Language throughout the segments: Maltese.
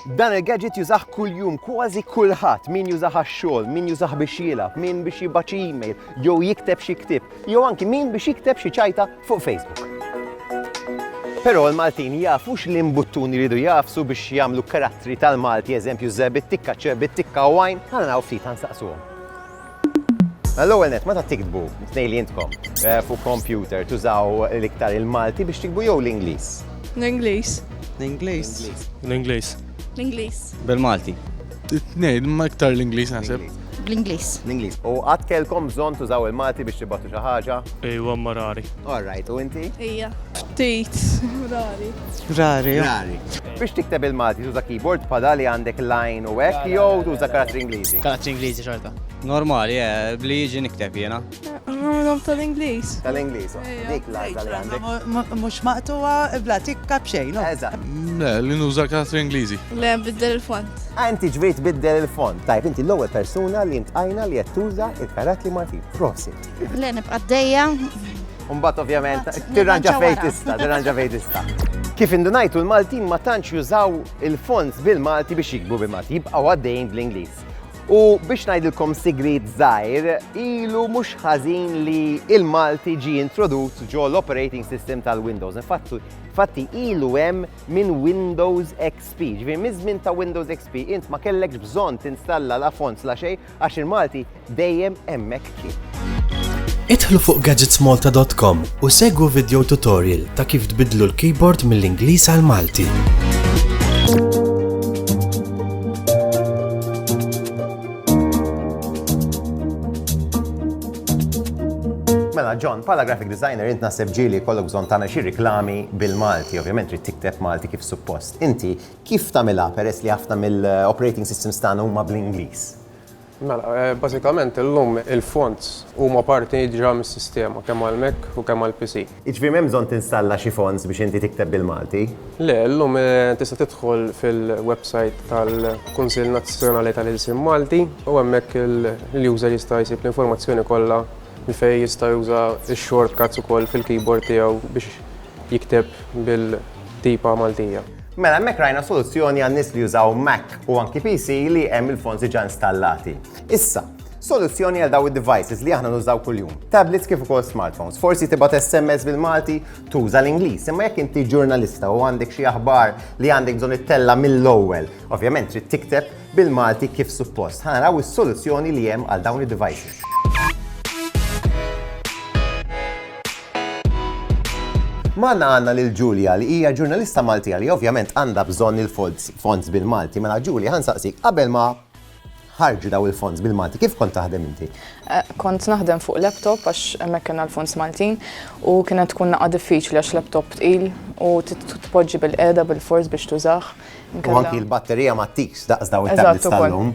Dan il-gadget jużah kuljum kważi kulħadd min jużah għax-xogħol, min jużah biex jilgħab, min biex jibgħat xi email, jew jikteb xi ktieb, jew anki min biex jikteb xi ċajta fuq Facebook. Però l-Maltin jafu li mbuttuni jridu jafsu biex jagħmlu karattri tal-Malti, eżempju żebit tikka, ċebit tikka u għajn, għandna ftit nsaqsuhom. L-ewwel net, meta tiktbu tnejn li intkom eh, fuq kompjuter tużaw l-iktar il-Malti biex tikbu jew l-Ingliż? L-Ingliż. L-Ingliż. L-Ingliż. L-Ingliż. Bil-Malti. Tnejn, ma iktar l-Ingliż naħseb. Bl-Ingliż. L-Ingliż. U qatt kellkom bżonn tużaw il-Malti biex tibgħatu xi ħaġa? Ejwa ma rari. All right, u inti? Ija. Ftit. Rari. Rari. Rari. Biex tikteb il-Malti tuża keyboard bħala li għandek line u hekk jew tuża karattri Ingliżi? Karattri Ingliżi xorta. Normali, eh, bli jiġi nikteb jiena. Għamilhom tal-Ingliż. Tal-Ingliż, dik l-għażla li għandek. Mhux maqtuwa bla tikka b'xejn. Eżatt. Le, li nuża karattri Ingliżi. Le, biddel il-font. Ah, inti ġvejt biddel il-font. Tajb, inti l-ewwel persuna li jintqajna li qed tuża il-karattri Maltin. Prosit. Le, nibqa' d Umbat ovvjament, tirranġa fej tista, tirranġa fej tista. Kif indunajtu l-Maltin ma tantx jużaw il-fonts bil-Malti biex jikbu bil-Malti, jibqaw għaddejn bl-Ingliż. U biex najdilkom sigrit zaħir, ilu mux ħazin li il-Malti ġi introdut ġo l-operating system tal-Windows. Infatti, fatti ilu hemm minn Windows XP. Ġviri, mizmin ta' Windows XP, int ma kellekx bżon tinstalla la fonts la xej, Għax il-Malti dejjem hemmhekk kien. Idħlu fuq gadgetsmalta.com u segwu video tutorial ta' kif tbidlu l-keyboard mill-Ingliż għal Malti. Mela, John, pala graphic designer, int nasib ġili kollok bżon tagħmel xi riklami bil-Malti, ovvjament trid tikteb Malti kif suppost. Inti Kif tagħmilha peress li ħafna mill-operating systems tagħna huma bl-Ingliż? Mela, bażikament illum il-fonts huma parti diġà mis-sistema kemm għall-Mac u kemm għall-PC. Jiġifieri m'hemm bżonn tinstalla xi fonts biex inti tikteb bil-Malti? Le, illum tista' tidħol fil-websajt tal-Kunsill Nazzjonali tal-Ilsien Malti u hemmhekk l-user jista' jsib l-informazzjoni kollha fejn jista' juża x-shortcuts ukoll fil-keyboard tiegħu biex jikteb bil-tipa Maltija. Mela hemmhekk rajna soluzzjoni għal nies li jużaw Mac u anki PC li hemm il-fonts diġà installati. Issa, soluzzjoni għal daw id-devices li aħna nużaw kuljum, tablets kif ukoll smartphones. Forsi tibgħat SMS bil-Malti tuża l-Ingliż, imma jekk inti ġurnalista u għandek xi aħbar li għandek bżonn ittella mill-ewwel, ovvjament trid tikteb bil-Malti kif suppost. Ħa naraw is-soluzzjoni li hemm għal dawn id-devices. Magħna għandna lil Julia li hija ġurnalista Maltija li ovvjament għandha bżonn il-fonds bil-Malti. Mela Julia ħa nsaqsik qabel ma ħarġu daw il-fonds bil-Malti, kif kont taħdem inti? Eh, kont naħdem fuq laptop għax hemmhekk kien l-fonds Maltin u kienet tkun naqa' diffiċli għax laptop tqil u tpoġġi bil-qeda bil-fors biex tużax. U anki l-batterija ma tiks daqs daw il-tablets tal-lum.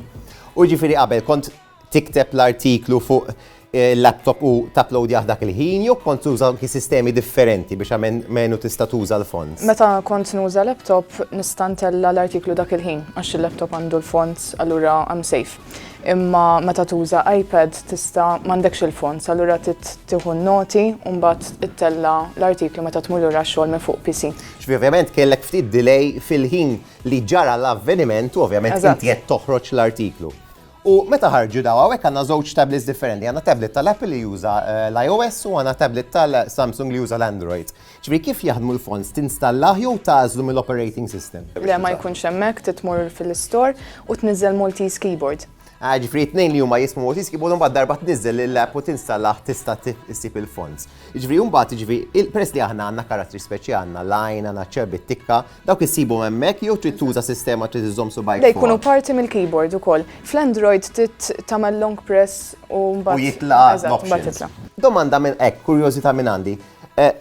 U ġifieri qabel kont tikteb l-artiklu fuq il-laptop u tapplowdjah dak il-ħin jew kont tuża anki sistemi differenti biex almenu tista' tuża l-fonts? Meta kont nuża laptop nista' ntella' l-artiklu dak il-ħin għax il-laptop għandu l-fonts allura I'm safe. Imma meta tuża iPad tista' m'għandekx il-fonts allura trid tieħu n-noti u mbagħad ittella' l-artiklu meta tmur lura x-xogħol minn fuq PC. Ġifieri ovvjament kellek ftit delay fil-ħin li ġara l-avveniment u ovvjament inti qed toħroġ l-artiklu. U meta ħarġu dawn, hawnhekk għandna żewġ tablets differenti. Għandna tablet tal-Apple li juża eh, l-iOS u għandna tablet tal-Samsung li juża l-Android. Ġifieri kif jaħdmu l-fonts tinstallah jew tażlu mill-operating system? Le ma jkunx hemmhekk titmur fil-istor u tniżżel Maltese Keyboard. Ah, ġifri t-nejn li huma jismu motis kibu mbagħad darba tniżel l-app u tinstallaħ tista' tissib il-fonts. Ġifri mbagħad ġifri il-press li aħna għandna karattri speċi għandna lajn, għandna ċerbi tikka, Dawk issibhom hemmhekk jew trid tuża sistema trid iżżomm subajk. Dej jkunu parti mill-keyboard ukoll. Fl-Android trid tagħmel long press u mbagħad. U jitla' Domanda minn hekk, kurjożità minn għandi. Eh,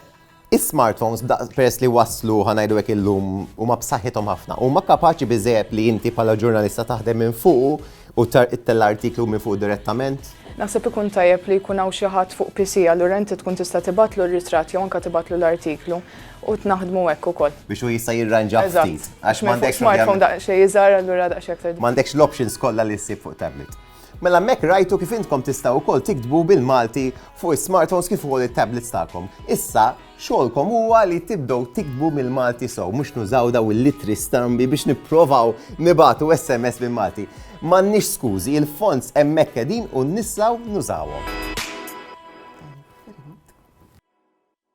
is-smartphones peress li waslu ħanajdu hekk illum huma b'saħħithom ħafna. Huma kapaċi biżejjed li inti bħala ġurnalista taħdem minn fuq u tella artiklu minn fuq direttament? Naħseb ikun tajjeb li jkun hawn xi ħadd fuq PC allura inti tkun tista' tibatlu r-ritratt jew anke tibatlu l-artiklu. U tnaħdmu hekk ukoll. Biex hu jista' jirranġah ftit. Għax m'għandekx. Smartphone daqsxejn iżgħar allura daqsxejn aktar. M'għandekx l-options kollha li ssib fuq tablet. Mela hemmhekk rajtu kif intkom tistgħu wkoll tiktbu bil-Malti fuq is-smartphones kif ukoll it-tablets tagħkom. Issa, xogħolkom huwa li tibdew tiktbu mill-Malti sew, mhux nużaw dawn il-littri strambi biex nipprovaw nibagħtu SMS bil-Malti. M'għandniex skużi, il-fonts hemmhekk qegħdin u nistgħu nużawhom.